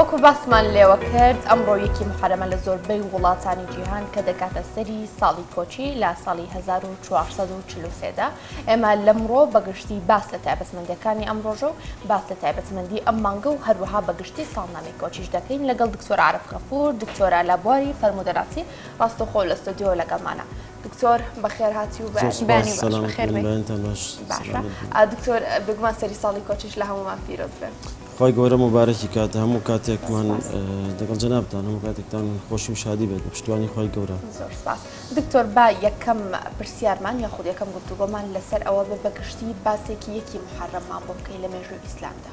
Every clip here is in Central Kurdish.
وەکو باسمان لێوە کرد ئەم ڕۆیەکی محرەمە لە زۆربەی وڵاتانی جیهان کە دەکاتە سەری ساڵی کۆچی لە ساڵی 1443دا ئێمە لەمڕۆ بەگشتی باس لە تایبەتمەندەکانی ئەم ڕۆژە و باس لە تایبەتمەندی ئەم مانگە و هەروەها بەگشتی ساڵنامی کۆچیش دەکەین لەگەڵ دکتۆر عرف غەفور دکتۆرا لە بواری فەرمودەناسی ڕاستەخۆ لە ستۆدیۆ لەگەڵمانە دکتۆر بەخێرهاتی و دکتۆر بگومان سەری ساڵی کۆچش لە هەمومان پیرۆز بێت خی گەورە مبارەکی کات هەموو کاتێکمان دەگەڵ جەنابتان هەموو کاتێکتان خۆشی و شادی بێت بە پشتوانی خی گەورە دکتۆر با یەکەم پرسیارمان یا خود یەکەم گفتوگۆمان لەسەر ئەوە بە بەگشتی باسێکی یەکی محرممان بۆ بکەی لە مێژووی ئیسلامدا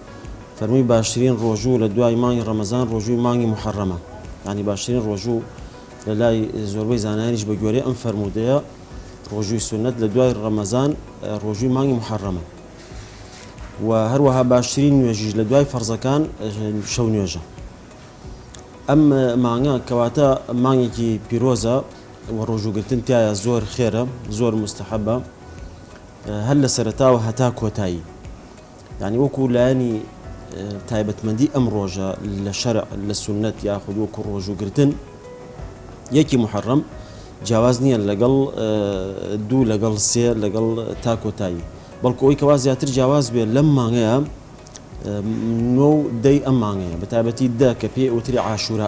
فەرمووی باشترین ڕۆژوو لە دوای مانگی ڕەمەزان ڕۆژووی مانگی موحەڕەمە یانی باشترین ڕۆژوو لە لای زۆربەی زانایانیش بە گوێرەی ئەم فەرموودەیە ڕۆژووی سونەت لە دوای ڕەمەزان ڕۆژووی مانگی محەڕەمە و هەروەها باشترین نوێژیش لە دوای فەرزەکان شەو نوێژە ئەم مانگە کەواتە مانگێکی پیرۆزە و ڕۆژوگرتن تایە زۆر خێرە زۆر مستحەبە هەر لە سەرتاوە هەتا کۆتایی یانی وەکو لایەنی تایبەتمەندی ئەم ڕۆژە لە شەرع لە سونەت یاخود وەکو ڕۆژوگرتن یەکی محرم جیاواز نییە لەگەڵ دوو لەگەڵ سێ لەگەڵ تاکۆتایی بەڵکو ئەوی کەوا زیاتر جیاواز بێت لەم مانگەیە نۆ دەی ئەم مانگەیە بە تایبەتی دە کە پێ ئەوتری عاشورە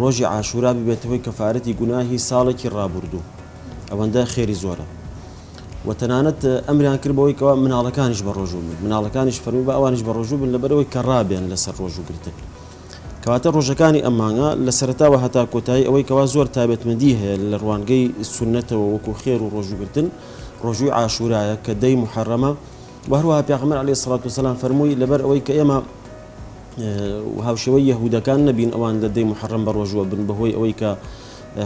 ڕۆژی عاشورا ببێتە هۆی کەفارەتی گوناهی ساڵێکی ڕابوردوو ئەوەندە خێری زۆرە و تەنانەت ئەمریان کرد بەوەی کەوا مناڵەکانیش بە ڕۆژوو من مناڵەکانیش فەرمی بە ئەوانش بە ڕۆژوو بن لەبەرەوەی کە ڕابێن لەسەر ڕۆژوو گرتن کەواتە ڕۆژەکانی ئەمانگە لە سەرتاوە هەتا کۆتایی ئەوەی کەوا زۆر تابێتمەدی هەیە لە ڕوانگەی سونەتەوە وەکو خێر و ڕۆژوگرتن ڕۆژووی عاشورایە کە دەی محرەمە وهروها پێغمبەر علی سڵات و سلام فەرمووی لەبەر ئەوەی کە ئێمە و هاوشێوەی یەهوودەکان نەبین ئەوان لە دەی موحەڕەم بەڕۆژووە بن بەهۆی ئەوەی کە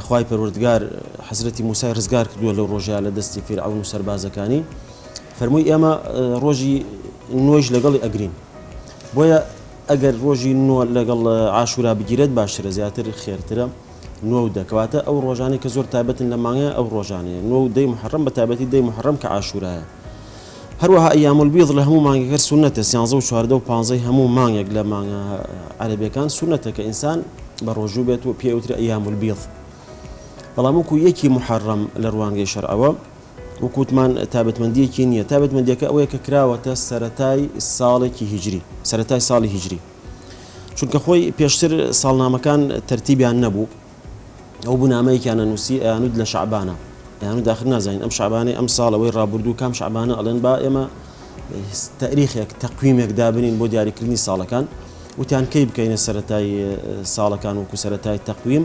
خوای پەروەردگار حەزرەتی موسای ڕزگار کردووە لەو ڕۆژەیا لە دەستی فیرعەون و سەربازەکانی فەرمووی ئێمە ڕۆژی نۆیش لەگەڵی ئەگرین بۆیە ئەگەر ڕۆژی نۆ لەگەڵ عاشورا بگیرێت باشترە زیاتر خێرترە نۆ و دەکەواتە ئەو ڕۆژانەی کە زۆر تایبەتن لە مانگە ئەو ڕۆژانەیە نۆ و دەی محرم بە تایبەتی دەی محرم کە عاشورایە هەروەها ایام البیض لە هەموو مانگەکە سونەتە سیانزە و چواردە و پانزەی هەموو مانگێک لە مانگە عەرەبیەکان سونەتە کە ئینسان بە ڕۆژوو بێت و پێوترە ایام البیض بەڵام وەکو یەکی محرم لە ڕوانگەی شەرعەوە وکوتمان تابەتمەندیەکی نییە تابەتمەندیەکە ئەوەیە کە کراوەتە سەتای ساڵێکی هیجری سەتای ساڵی هیجری چونکە خۆی پێشتر ساڵنامەکان تەرتیبیان نەبوو ئەو بوو نامەیەکیان ئەنووسی ئەیانوت لە شەعبانە ئەیانوت ئاخر نازانین ئەم شەعبانەی ئەمساڵ ئەوەی ڕابوردوو کام شەعبانە ئەڵێن با ئێمە تەریخێک تەقویمێک دابنین بۆ دیاریکردنی ساڵەکان وتیان کەی بکەینە سەتای ساڵەکان وەکو سەتای تەقویم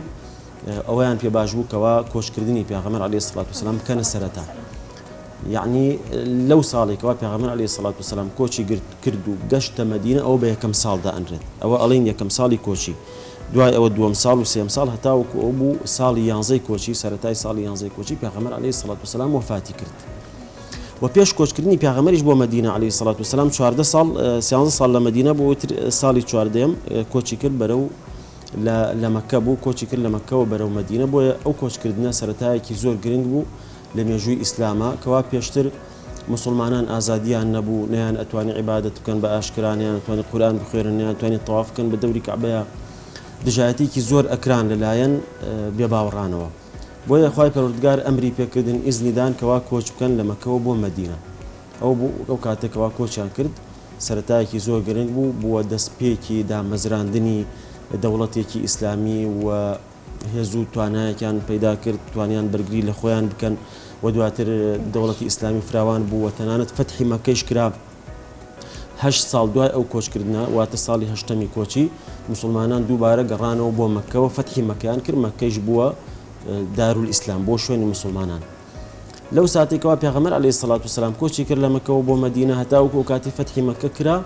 ئەویان پێ باش بوو کەوا کۆشکردنی پێغەمەر علی سڵات وسلام بکەنە سەرەتا یعنی لەو ساڵێکەوە پێغەمەر علی سڵات وسلام کۆچی گرت کرد و گەشتە مدینە ئەو بە یەکەم ساڵدا ئەنرێت ئەوە ئەڵین یەکەم ساڵی کۆچی دوای ئەوە دووەم ساڵ و سێم ساڵ هەتاوەکو ئەو بوو ساڵی یانزەی کۆچی سەرەتای ساڵی یانزەی کۆچی پێغەمبەر عەلەیهی سڵات وسلام وەفاتی کرد و پێش کۆچکردنی پێغەمبەریش بۆ مەدینە عەلەیهی سڵات وسلام چواردە ساڵ سیانزە ساڵ لە مەدینە بۆ وتر ساڵی چواردەم کۆچی کرد بەرەو لە مەکە بوو کۆچی کرد لە مەکەوە بەرەو مەدینە بۆیە ئەو کۆچکردنە سەرەتایەکی زۆر گرنگ بوو لە مێژووی ئیسلامە کەوا پێشتر موسوڵمانان ئازادیان نەبوو نەیان ئەتوانی عیبادەت بکەن بە ئاشکرا نەیان ئەتوانی قورئان بخوێنن نەیان توانی تەواف بکەن بە دەوری کەعبەیا دژایەتیکی زۆر ئەکران لەلایەن بێ باوەڕانەوە بۆیە خوای پەروەردگار ئەمری پێکردن ئیزنی دان کەوا کۆچ بکەن لە مەکەوە بۆ مەدینە ئەو بوو ئەو کاتێک کەوا کۆچیان کرد سەرەتایەکی زۆر گرنگ بوو بووە دەستپێکی دامەزراندنی دەوڵەتێکی ئیسلامی و هێزو توانایەکیان پەیدا کرد توانیان بەرگری لە خۆیان بکەن و دواتر دەوڵەتی ئیسلامی فراوان بوو و تەنانەت فەتحی مەکەیش کرا هەشت ساڵ دوای ئەو کۆچکردە واتە ساڵی هەشتەمی کۆچی مسلمانان دووبارە گەڕانەوە بۆ مەکەوە فەتحی مەکەیان کرد مەکەیش بووە دارول ئیسلام بۆ شوێنی مسلمانان لەو ساتێکەوە پێغەمەر علی سەڵات و سلام کۆچی کرد لە مەکەەوە بۆ مدینە هەتاوکو و کاتی فەتحی مەکە کرا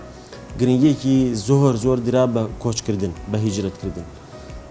گرنگیەکی زۆر زۆر درا بە کۆچکردن بە هیجرەتکردن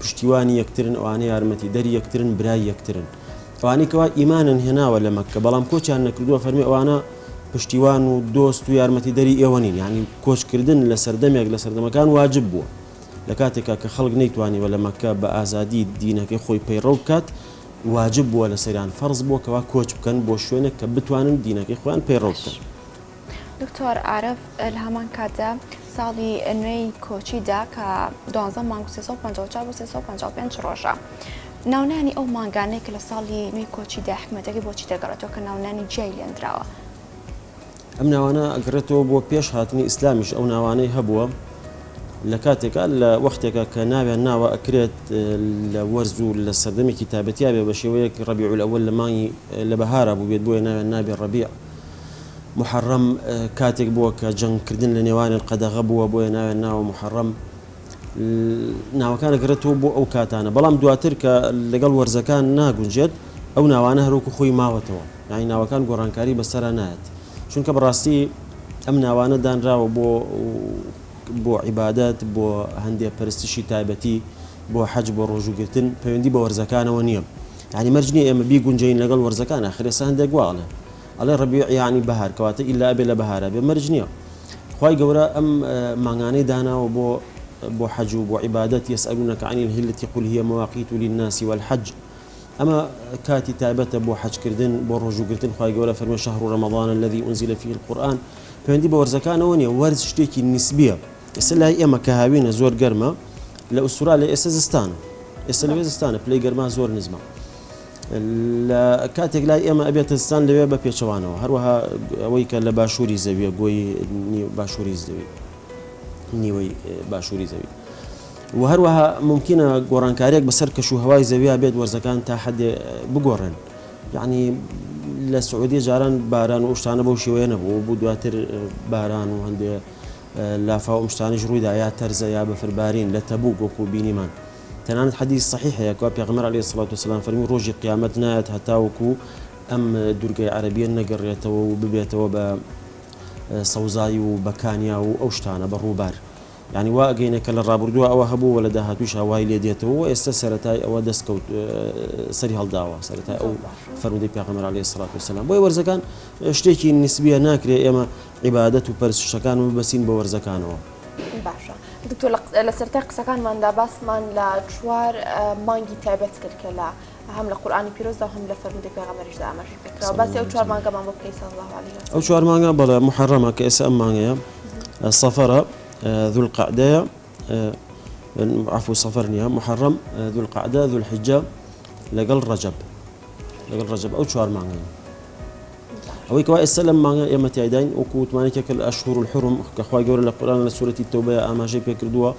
پشتیوانی یەکترن ئەوانە یارمەتی دەری یەکترن برای یەکترن ئەوانەی کەوا ئیمانن هێناوە لە مەکە بەڵام کۆچیان نەکردووە فەرمی ئەوانە پشتیوان و دۆست و یارمەتی دەری ئێوەنین ینی کۆچکردن لە سەردەمێک لە سەردەمەکان واجب بووە لە کاتێکا کە خەڵک نەیتوانیوە لە مەکە بە ئازادی دینەکەی خۆی پەیڕەو بکات واجب بووە لە سەریان فەرز بووە کەوا کۆچ بکەن بۆ شوێنێک کە بتوانن دینەکەی خۆیان پەیڕەو بکەن دکتۆر عارف لە هەمان کاتدا ساڵی نوێی کۆچیدا کە دوانزە مانگ و 354 بۆ 355 ڕۆژە ناونانی ئەو مانگانەی کە لە ساڵی نوێی کۆچیدا حکومەتەکە بۆچی دەگەڕێتەوە کە ناونانی جیای لێندراوە ئەم ناوانە ئەگرێتەوە بۆ پێش هاتنی ئیسلامیش ئەو ناوانەی هەبووە لە کاتێکا لە وەختێکە کە ناوێن ناوە ئەکرێت لە وەرز و لە سەردەمێکی تابەتیاێ بە شێوەیەک ڕبیعول ئەوە لە مانگی لە بەهارا بووێت بۆیە ناوێن نابێ ڕبیع موحەڕەم کاتێک بووە کە جەنگکردن لە نێوانیان قەدەغە بووە بۆیە ناویان ناوە موحەڕەم ناوەکان دەگەڕێتەوە بۆ ئەو کاتانە بەڵام دواتر کە لەگەڵ وەرزەکان ناگونجێت ئەو ناوانە هەروەکو خۆی ماوەتەوە یعنی ناوەکان گۆڕانکاری بەسەرا نایەت چونکە بەڕاستی ئەم ناوانە دانراوە بۆ بۆ عیبادەت بۆ هەندێک پەرستشی تایبەتی بۆ حەج بۆ ڕۆژووگرتن پەیوەندی بە وەرزەکانەوە نییە یانی مەرج نیە ئێمە بیگونجێین لەگەڵ وەرزەکان ئاخر ئێستا هەندێک وا ئەڵێن ئەڵێ ڕەبیع یانی بەهار کەواتە ئیلا ئەبێ لە بەهارا بێ مەرج نیە خوای گەورە ئەم مانگانەی داناوە بۆ بۆ حەج و بۆ عیبادەت یەسئەلونەکە عەنی الهیلەتی قل هی مواقیت للناس والحج ئەمە کاتی تایبەتە بۆ حەجکردن بۆ ڕۆژوگرتن خی گەورە فەرمە شەهر و ڕەمەڵانە لەدی ئونزیلە فیل قورآن پێندی بە وەرزەکانەوە نیە وەرز شتێکی نیسبیە ئێستا لای ئێمە کە هاوینە زۆر گەرمە لە ئوسترالیا ئێستا زستانە ئێستا لەوێ زستانە پلەی گەرما زۆر نزمە لە کاتێک لای ئێمە ئەبێت زستان لەوێ بە پێچەوانەوە هەروەها ئەوەی کە لە باشووری زەویە گۆی باشووری زەوی نیوەی باشووری زەوی و هەروەها ممکنە گۆڕانکاریێک بەسەر کەش و هەوای زەویا بێت وەرزەکان تا حدێ بگۆڕن یعنی لە سعودی جاران باران و شتانە بەو شێوەیە نەبوو بوو دواتر باران و هەندێک لافاو ئەم شتانەیش ڕوویدا یا تەرزە یا بەفربارین لە تەبوک وەکو بینیمان تەنانەت حەدیس سەحیح هەیە کوا پێغەمبەر علی سڵات وسلام فەرمی ڕۆژی قیامەت نایەت هەتاوەکو ئەم دورگەی عەرەبیە نەگەڕێتەوە و ببێتەوە بە سەوزایی و بەکانیا و ئەو شتانە بە ڕووبار یعنی وا ئەگەینە کە لە ڕابردووە ئەوە هەبوو وە لە داهاتوش هاوای لێ دێتەوە و ئێستا سەرەتای ئەوە دەست کەوت سەری هەڵداوە سەرەتای ئەو فەرمودەی پێغەمبەر علی سڵات وسلام بۆی وەرزەکان شتێکی نسبیە ناکرێ ئێمە عیبادەت و پەرستشەکان و ببەستین بە وەرزەکانەوە. باشە دکتۆر لە سەرەتای قسەکانماندا باسمان لە چوار مانگی تایبەت کرد کە لە هەم لە قورآانی پیرۆزدا هەم لە فەرمودی پێغەمەریشدا ئەمەش بکرا باسی ئەو چوار مانگەمان بۆ بکەی سەڵ ئەو چوار مانگە بەڵێ محەڕەمە کە ئێستا ئەم مانگەیە سەفەرە ذول قعدەیە عفو سەفەر نیە محەڕەم ذول قعدە ذول حجە لەگەڵ ڕەجەب لەگەڵ ڕەجەب ئەو چوار مانگەن ئەوەی کەوا ئێستا لەم مانگە ئێمە تایداین وەکو وتمانێکە کە ئەشهور الحرم کە خوای گەورە لە قورآن لە سورەتی تەوبە ئاماژەی پێکردووە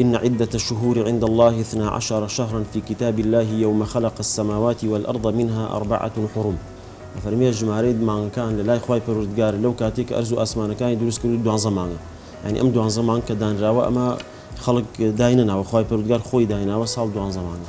إن عدة الشهور عند الله اثنا عشر شهرا في كتاب الله يوم خلق السماوات والأرض منها أربعة حرم فەرمیێ ژمارەی مانگەکان لە لای خی پەرودگار لەو کاتێک ئەرز و ئاسمانەکانی دروست کرد دوان زمانە ینی ئەم دوان زمان کە دانراوە ئەمە خەڵک داینە ناوە خی پەرودگار خۆی دایناوە ساڵ دوان زمانە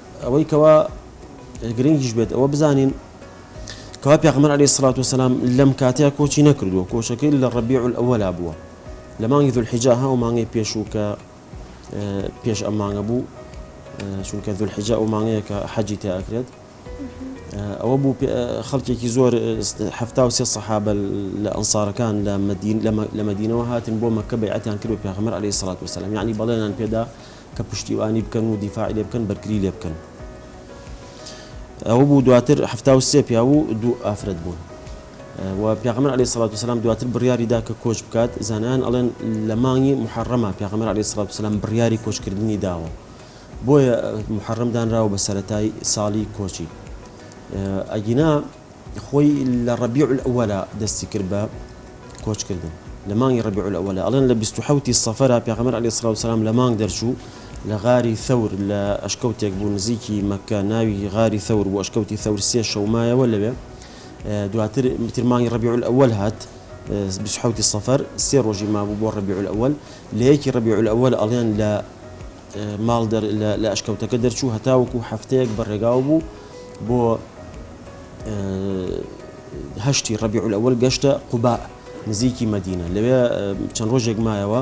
ئەوەی کەوا گرنگیش بێت ئەوە بزانین کەوا پێغمبەر علیه الصلاة والسلام لەم کاتەیە کۆچی نەکردووە کۆچەکەی لە ڕەبیع الأولا بووە لە مانگی ذوالحجە ها و مانگی پێشوو کە پێش ئەم مانگە بوو چونکە ذوالحجە ئەو مانگەیە کە حەجی تیا ئەکرێت ئەوە بوو خەڵکێکی زۆر هەفتا و سێ سەحابە لە ئەنسارەکان لە مدین لە مدینەوە هاتن بۆ مەکە بەعەتیان کرد و پێغمبەر علیه الصلاة والسلام یعنی بەڵێنان پێدا کە پشتیوانی بکەن و دیفاعی لێ بکەن بەرگری لێ بکەن ئەوە بوو دواتر حفتا و سێ پیاو و دوو ئافرەت بوون و پیاغمر علی سڵات وسلام دواتر بڕیاری دا کە کۆچ بکات زانیان ئەڵێن لە مانگی محرەمە پیاغمر علی سڵات وسلام بڕیاری کۆچکردنی داوە بۆیە محرم دانراوە بە سەتای ساڵی کۆچی ئەگینا خۆی لە ڕەبیع الأوەلا دەستی کرد بە کۆچ کردن لە مانگی ڕەبیع الأوەلا ئەڵێن لە بیست و حەوت ی سەفەرا پێغەمبەر علی سڵاو سلام لە مانگ دەرچوو لە غاری ثەور لە ئەشکەوتێک بوو نزیکی مەککە ناوی غاری ثەور بوو ئەشکەوتی ثەور سێ شەو مایەوە لەوێ دواتر تر مانگی ڕەبیع الأول هات بیست و حەوت ی سەفەر سێ ڕۆژی مابوو بۆ ڕەبیع الأول لە یەکی ڕەبیع الأول ئەڵێن لە ماڵ لە ئەشکەوتەکە دەرچوو هەتاوەکو هەفتەیەک بە ڕێگاو بوو بۆ هەشتی ڕەبیعول ئەوەل گەشتە قوبا نزیکی مەدینە لەوێ چەند ڕۆژێک مایەوە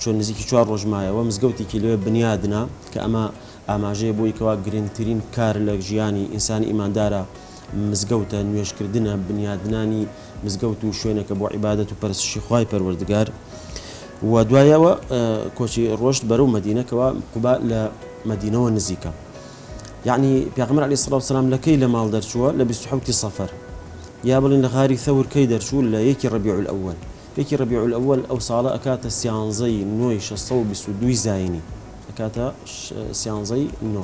چۆن نزیکی چوار ڕۆژمایەوە مزگەوتێکی لێ بنیادنا کە ئەمە ئاماژەیە بۆی کەوا گرنگترین کار لە ژیانی ئینسانی ئیماندارە مزگەوتە، نوێژکردنە، بنیادنانی مزگەوت و شوێنەکە بۆ عیبادەت و پەرستشی خوای پەروەردگار و دوای ئەوە کۆچی ڕۆشت بەرەو مەدینە کەوا قوبا لە مەدینەوە نزیکە یعنی پێغمبر علی سڵاو سلام لە کەی لە ماڵ دەرچووە لە 26 سەفەر یا بڵین لە غاری ثەور کەی دەرچوو لە یەکی ڕبیع الأول یەکی ڕبیع الأول ئەو ساڵە ئەکاتە سیانزەی نۆی 622 زینی ئەکاتە سیانزەی نۆ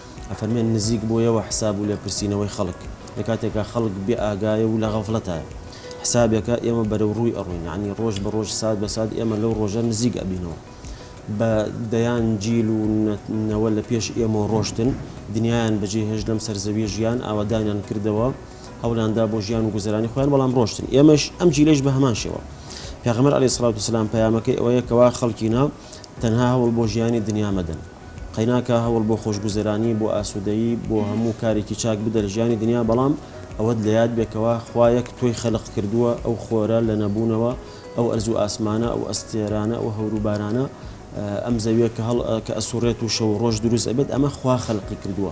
ئەفەرمێت نزیک بۆیەوە حساب و لێپرسینەوەی خەڵک لە کاتێکا خەڵک بێ ئاگایە و لە غەفڵەتایە حسابێکە ئێمە بەرەو ڕووی ئەڕۆین یانی ڕۆژ بە ڕۆژ سات بە سات ئێمە لەو ڕۆژە نزیک ئەبینەوە بە دەیان جیل و نەوە لە پێش ئێمەوە ڕۆشتن دنیایان بە جێ هێشت لەم سەر زەویە ژیان ئاوەدانیان کردەوە هەوڵیان دا بۆ ژیان و گوزەرانی خۆیان بەڵام ڕۆشتن ئێمەش ئەم جیلەش بە هەمان شێوە پێغەمبەر علی سڵاوت و سلام پەیامەکەی ئەوەیە کەوا خەڵکینە تەنها هەوڵ بۆ ژیانی دنیا مەدەن. قەیناکا هەوڵ بۆ خۆشگوزەرانی بۆ ئاسودەیی بۆ هەموو کارێکی چاک بدە لە ژیانی دنیا بەڵام ئەوەت لە یاد بێ کەوا خوا یەک تۆی خەلق کردووە ئەو خۆرە لە نەبوونەوە ئەو ئەرزو ئاسمانە ئەو ئەستێرانە ئەو هەورو بارانە ئەم زەویە کە هەڵ کە ئەسوڕێت و شەو و ڕۆژ دروست ئەبێت ئەمە خوا خەلقی کردووە.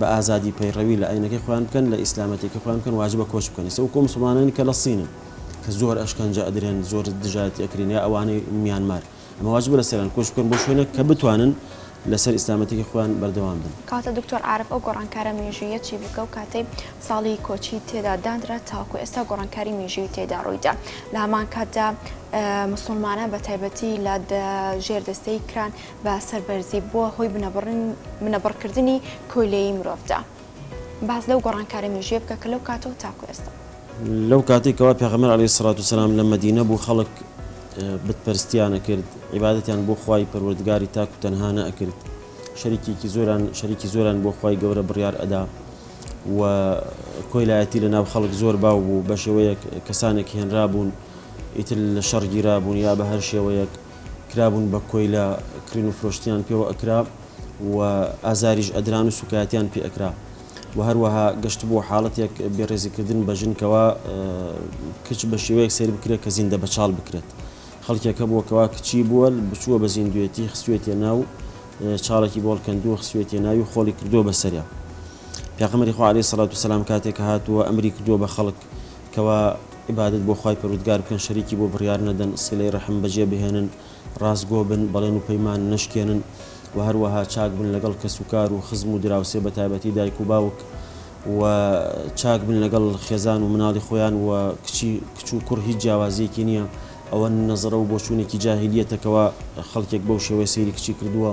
بە ئازادی پەیڕەوی لە ئاینەکەی خۆیان بکەن لە ئیسلامەتیەکەی خۆیان بکەن واجبە کۆچ بکەن ئیستا وەکو ئەو مسوڵمانانەی کە لە صینن کە زۆر ئەشکەنجە ئەدرێن زۆر دژایەتی ئەکرێن یا ئەوانەی میانمار ئەمە واجبە لە سەریان کۆچ بکەن بۆ شوێنێک کە بتوانن لەسەر ئیسلامەتیەکەی خۆیان بەردەوام بن. کاتە دکتۆر عارف ئەو گۆڕانکارە مێژووییە چی بوو کە ئەو کاتەی ساڵی کۆچی تێدا دانرا تاوەکو ئێستا گۆڕانکاری مێژوویی تێدا ڕووی دا لە هەمان کاتدا مسوڵمانان بە تایبەتی لە ژێر دەستەیی کران بە سەربەرزی بووە هۆی بنەبڕکردنی کۆیلەیی مرۆڤدا. باس لەو گۆڕانکارە مێژوویە بکە کە لەو کاتەوە تاکو ئێستا. لەو کاتەی کەوا پێغەمبەر علیە الصلوة والسلام لە مەدینە بوو خەڵک بت پەرستیان ئەکرد، عیبادەتیان بۆ خوای پەروەردگاری تاک و تەنها نەئەکرد، شەریکێکی زۆران شەریکی زۆران بۆ خوای گەورە بڕیار ئەدا و کۆیلایەتی لە ناو خەڵک زۆر باو بوو بەشێوەیەک کەسانێک هێنرابوون ئیتر لە شەڕ گیرابوون یا بە هەر شێوەیەک. کرابوون بە کۆیلە کڕین و فرۆشتنیان پێوە ئەکرا و ئازاریش ئەدران و سوکایەتیان پێ ئەکرا و هەروەها گەشت بۆ حاڵەتێک بێڕێزیکردن بە ژنکەوە کچ بە شێوەیەک سێر بکرێت کە زیندە بەچاڵ بکرێت خەڵکێکە بووەکەوە کچی بووە بچووە بە زیندوێتی خسوێتێ ناو چاڵێکی بۆڵ کەندووە خسوێتی ناوی خۆڵی کردووە بەسەریا پێغمەری خوارێ سەڵات و سەسلام کاتێک هاتووە ئەمری کردووە بە خەڵک کوا عیبادەت بۆ خوای پەروردگار بکەن شەریکی بۆ بڕیار نەدەن سیلەی ڕەحم بەجێ بهێنن ڕاستگۆ بن بەڵێن و پەیمان نەشکێنن وە هەروەها چاک بن لەگەڵ کەس و کار و خزم و دراوسێ بەتایبەتی دایک و باوک وە چاک بن لەگەڵ خێزان و مناڵی خۆیان وە کچی کچ و کوڕ هیچ جیاوازیەکی نیە ئەوە نەزەرە و بۆچوونێکی جاهیلیەتە کوا خەڵکێک بەو شێوەیە سەیری کچی کردووە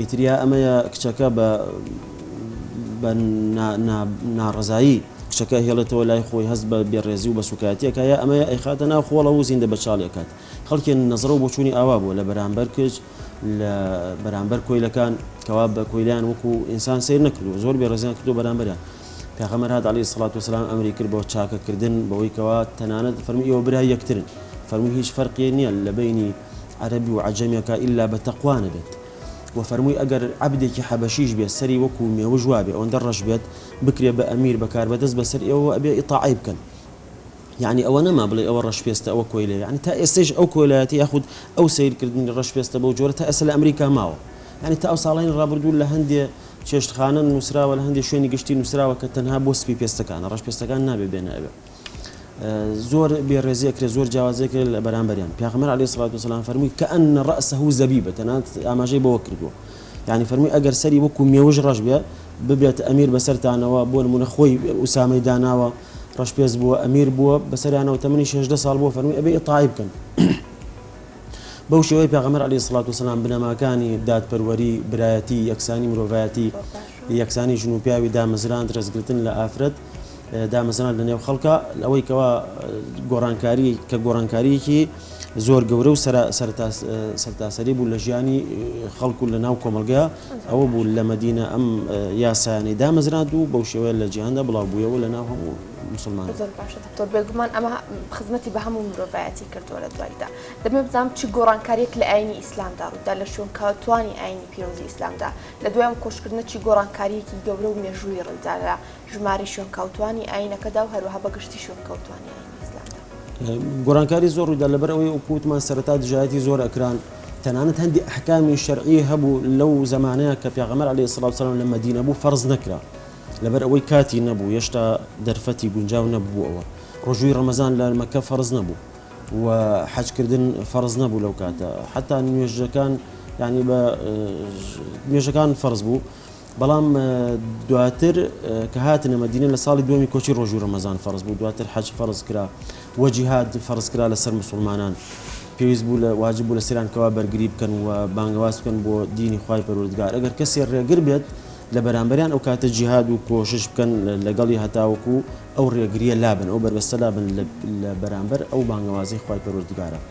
ئیتر یا ئەمەیە کچەکە بە بە نا نا ناڕەزایی کچەکە ئەهێڵێتەوە لای خۆی هەست بە بێڕێزی و بە سووکایەتی ئەکا یا ئەمەیە ئەیخاتە ناو خۆڵەوە و زیندە بەچاڵی ئەکات خەڵکێ نەزرە و بۆچوونی ئاوا بووە لە بەرانبەر کچ لە بەرانبەر کۆیلەکان کەوا بە کۆیلەیان وەکوو ئینسان سەیر نەکردووە زۆر بێڕێزیان کردووە بەرانبەریان پێغەمبەر هات علیە سڵات وسلام ئەمری کرد بۆ چاکە کردن بەوەی کەوا تەنانەت فەرمی ئێوە برای یەکترن فەرموو هیچ فەرقی نییە لە بینی عەربی و عجمێکە ئللا بە تەقوانە بێت و فەرمووی ئەگەر عبدێکی حەبەشیش بێت سەری وەکو مێوژ وابێ ئەوەندە ڕەش بێت بکرێ بە ئەمیر بەکار بەدەست بەسەر ئێوە ئەبێ ئیتاعی بکەن یەعنی ئەوە نەما بڵێی ئەوە ڕەشپێستە ئەوە کۆیلەیە یەعنی تا ئێستەیش ئەو کۆیلایەتی یاخود ئەو سەیرکردنی ڕەشپێستە بەو جۆرە تا ئێستە لە ئەمریکا ماوە یەعنی تا ئەو ساڵانی ڕابردوو لە هەندێ چێشتخانە نووسراوە لە هەندێ شوێنی گشتی نووسراوە کە تەنها بۆ سپی پێستەکانە ڕەشپێستەکان نابێ بێنە ئەوێ زۆر بێڕێزی ئەکرێ زۆر جیاوازی کرێت لە بەرامبەریان پیاخمەر علی سڵات وسلام فەرمووی کە ئەن ڕەسە و زەبی بە تەنات ئاماژەی بەوە کردووە یعنی فەرمووی ئەگەر سەری وەکو مێوژ ڕەش بێ ببێت ئەمیر بەسەرتانەوە بۆ نمونە خۆی ئوسامەی داناوە ڕەشپێست بووە ئەمیر بووە بەسەریانەوە تەمەنی شێژدە ساڵ بووە فەرمی ئەبێ ئیتاعی بکەن بەو شێوەی پێغەمبەر عەلەیهی سڵات وسلام بنەماکانی دادپەروەری برایەتی یەکسانی مرۆڤایەتی یەکسانی ژن و پیاوی دامەزراند ڕێزگرتن لە ئافرەت دامەزران لە نێو خەڵکە ئەوەی کەوا گۆڕانکاری کە گۆڕانکاریەکی زۆر گەورە و سەرتاسەری بوو لە ژیانی خەڵکو لە ناو کۆمەلگە ئەوە بوو لە مەدینە ئەم یاسایانەی دامەزراند و بەو شێوەیە لە جیهاندا بڵاو بوویەوە لە ناو هەموو مسلمان زۆر باشە دکتۆر بێگومان ئەمە خزمەتی بە هەموو مرۆڤایەتی کردووە لە دواییدا دەمێ بزانم چ گۆڕانکاریەک لە ئاینی ئیسلامدا ڕوویدا لە شوێنکەوتوانی ئاینی پیرۆزی ئیسلامدا لە دوای ئەم کۆشکردنە چی گۆڕانکاریەکی گەورە و مێژوویی ڕوویدا لە ژمارەی شوێنکەوتووانی ئایینەکەدا و هەروەها بە گشتی شوێنکەوتووانی ئایینی ئیسلامدا. گۆڕانکاری زۆر ڕوویدا لەبەر ئەوەی وەکو وتمان سەرەتا دژایەتی زۆر ئەکران، تەنانەت هەندێک ئەحکامی شەرعی هەبوو لەو زەمانەیە کە پێغەمبەر عەلەیهی سڵاو وسەلام لە مەدینە بوو فەرز نەکرا لەبەر ئەوەی کاتی نەبوو هێشتا دەرفەتی گونجاو نەببوو ئەوە ڕۆژووی ڕەمەزان لە مەکە فەرز نەبوو و حەجکردن فەرز نەبوو لەو کاتە حتا نوێژەکان یعنی بە نوێژەکان فەرز بوو بەڵام دواتر کە هاتنە مەدینە لە ساڵی دووەمی کۆچی ڕۆژوو ڕەمەزان فەرز بوو دواتر حەج فەرز کرا وە جیهاد فەرز کرا لەسەر مسلمانان پێویست بوو لە واجب بوو لە سیران کەوا بەرگری بکەن و بانگەواز بکەن بۆ دینی خی پەرودگار ئەگەر کەسێ ڕێگر بێت لە بەرامبەریان ئەو کاتە جیهاد و کۆشش بکەن لەگەڵی هەتاوەکو ئەو ڕێگریە لابن ئەو بەربەستە لابن لە بەرامبەر ئەو بانگەوازی خی پەرودگارە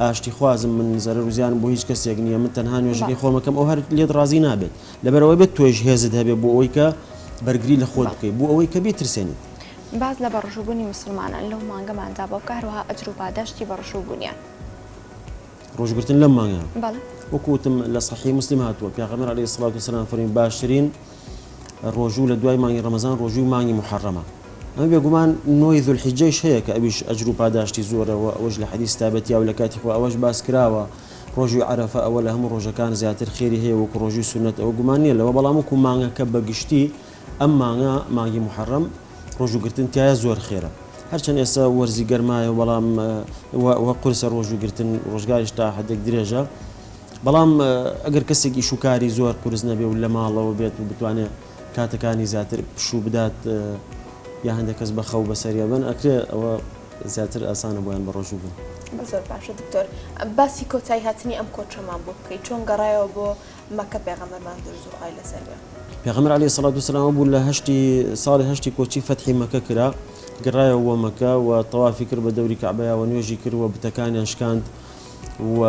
ئاشتی خوازم من زەرەر و زیانم بۆ هیچ کەسێک نیە من تەنها نوێژەکەی خۆم ئەکەم ئەو هەر لێت ڕازی نابێت لەبەر ئەوەی بێت تۆیش هێزت هەبێت بۆ ئەوەی کە بەرگری لە خۆت بکەیت بۆ ئەوەی کە بیترسێنیت. باس لە بەڕژووبوونی موسڵمانان لەو مانگەماندا بۆ بکە هەروەها ئەجر و پاداشتی بەڕژووبوونیان. ڕۆژووگرتن لەم مانگە بەڵێ. وەکو وتم لە سەحیح موسلیم هاتووە پیاغەمبەر علیە سڵاوت و سەلام فەرمی باشترین ڕۆژوو لە دوای مانگی ڕەمەزان ڕۆژووی مانگی موحەڕەمە ئەمە بێگومان نۆی ذوالحیجەیش هەیە کە ئەویش ئەجر و پاداشتی زۆرە و ئەوەش لە حەدیس تابە تیا و لە کاتی خۆ ئەوەش باس کراوە ڕۆژووی عەرەفە ئەوە لە هەموو ڕۆژەکان زیاتر خێری هەیە وەکو ڕۆژووی سونەت ئەوە گومان نییە لەوە بەڵام وەکو مانگەکە بە گشتی ئەم مانگە مانگی موحەڕەم ڕۆژووگرتن تایە زۆر خێرە هەرچەند ئێستا وەرزی گەرمایە بەڵام وە قورسە ڕۆژووگرتن ڕۆژگاریش تا حدێک درێژە بەڵام ئەگەر کەسێک ئیشوکاری زۆر قورس نەبێ و لەماڵەوە بێت و بتوانێ کاتەکانی زیاتر پشوو بدات یا هەندێک کەس بە خەو بەسەریا بن ئەکرێ ئەوە زیاتر ئاسانە بۆیان بە ڕۆژوو بن. زۆر باشە دکتۆر باسی کۆتایی هاتنی ئەم کۆچەمان بۆ بکەی چۆن گەڕایەوە بۆ مەکە پێغەمبەرمان دروزو خوای لەسەر بێ. پێغەمبەر علیە سڵات وسلام ئەبوو لە هەشتی ساڵی هەشتی کۆچی فەتحی مەکە کرا گەڕایەوە بۆ مەکە و تەوافی کرد بە دەوری کەعبەیا وە نوێژی کرد وە بتەکانیان شکاند و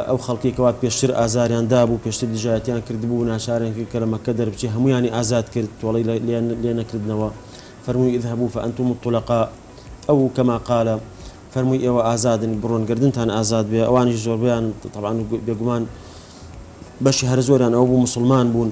ئەو خەڵکەی کەوا پێشتر ئازاریان دابوو، پێشتر دژایەتیان کردبوو، ناچاریان کرد کە لە مەککە دەربچێ، هەموویانی ئازاد کرد، تۆڵەی لێ نەکردنەوە، فەرمووی، اذهبوا فانتم الطلقاء، ئەو کما قال، فەرمووی، ئێوە ئازادن، بڕۆن، گەردنتان ئازاد بێ، ئەوانیش زۆربەیان، تەبعەن و بێگومان بەشی هەرە زۆریان ئەوە بوو، موسڵمان بوون.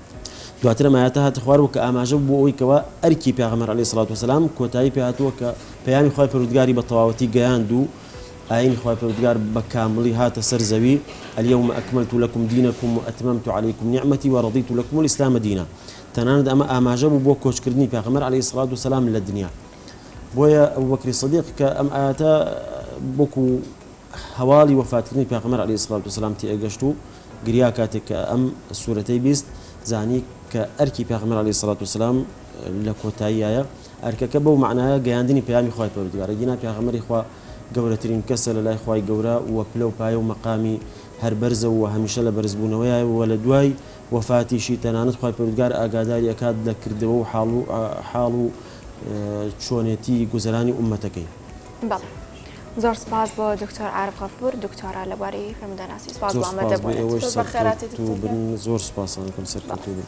دواتر ئەم ئایەتە هاتە خوار و کە ئاماژە بوو بۆ ئەوەی کەوا ئەرکی پێغەمبەر عەلەیهی سڵات وسەلام کۆتایی پێ هاتووە کە پەیامی خوای پەروردگاری بە تەواوەتی گەیاند و ئاینی خوای پەروردگار بە کامڵی هاتە سەر زەوی الیوم اکملت لکم دینکم و اتممت علیکم نعمتی و رضیت لکم الاسلام دینا تەنانەت ئەمە ئاماژە بوو بۆ کۆچکردنی پێغەمبەر عەلەیهی سڵات وسەلام لە دنیا بۆیە ئەبوبەکری صدیق کە ئەم ئایەتە بۆکو هەواڵی وەفاتکردنی پێغەمبەر عەلەیهی سڵات وسەلام تێگەشت و گریا کاتێک کە ئەم سورەتەی بیست زانی کە ئەرکی پێغەمبەر علیە سڵات وسلام لە کۆتاییایە ئەرکەکە بەو معناە گەیاندنی پیامی خخوای پەرودگارە گینا پێغەمەری خوا گەورەترین کەسە لە لای خی گەورە و پلە و پایە و مەقامی هەر بەرزە و هەمیشە لە بەرزبوونەوەی و لە دوای وەفاتیشی تەنانەت خی پرودگار ئاگاداری ئەکات لە کردەوە و حاڵ و حاڵ و چۆنێتی گوزەرانی عومەتەکەی بەڵێ زۆر سپاس بۆ دکتۆر عارف غەفور دکتۆرا لە بواری فرەمدەناسی سپاس بۆ ئامادەبوونت. زۆر سوپاس بۆ ئێوەش سەرکەوتوو بن. زۆر سوپاستان ئەکەم سەرکەوتوو بن.